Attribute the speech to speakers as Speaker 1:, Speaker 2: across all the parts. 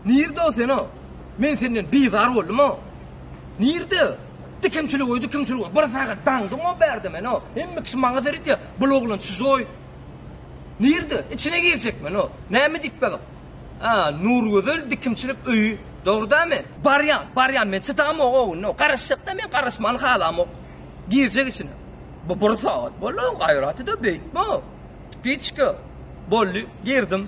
Speaker 1: Nirde o seno? Men senden bizar boldum o. Nirde? Dikimçilik oý, dikimçilik oý. Bir sagat daňdyň o bärde men o. Hemme kişi maňa seredýä. Bu oglan çyzoý. Nirde? Içine girjek men o. Näme diýip bagyp? A, Nurgözel dikimçilik öýi. Dogrudanmy? Barýan, barýan men çydamok o gün. Garaşjakda men garaşmany halamok. Girjek içine. Bu bir sagat boldy o gaýraty da beýtme o. Gitçki. Boldy, girdim.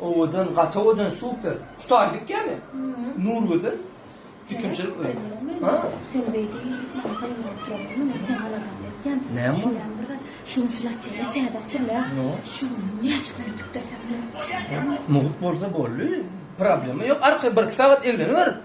Speaker 1: Owadan gaty owadan super. Star dikýämi? Nurgözel. Fikrimçilik bilen. Ha. Sen
Speaker 2: beýdi. Näme bu?
Speaker 1: Şuň şu
Speaker 2: latýa täze açylýa. Şu
Speaker 1: näçe
Speaker 2: gün ötüpdir sen? Mugt bolsa
Speaker 1: boldy. Problema ýok. Arka bir sagat egleniber.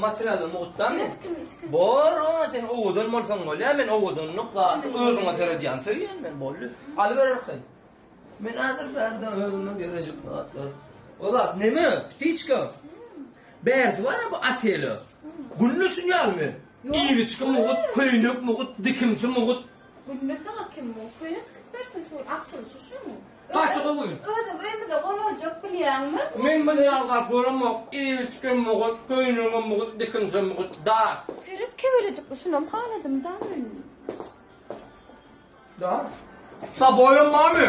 Speaker 2: Materialny
Speaker 1: mugtdan men. Bor,
Speaker 2: sen
Speaker 1: owadan bolsaň bolýar, men owadanlyk zady özüňe seredýän söýýän men boldy. Aly bererken. Men häzir bärde özüme gerejik zatlar. Ola, neme? Ptiçka. Bärsi bar bu atele. Günde şunýalmy? Iwiçki mugut, köýnek mugut, dikimçi mugut. Günde saňa
Speaker 2: kim mugut, köýnek dikip bersin şu açylyşy şumy? Gaty gowy. Özüň öýmüze golaljak bilýäňmi? Men bir ýagdaý
Speaker 1: göremok, eýeçkem mugut, köýnegem mugut, dikimsem mugut, dar. Seret kebelejikli
Speaker 2: şunam haladym da men.
Speaker 1: Dar. Sa boýuň barmy?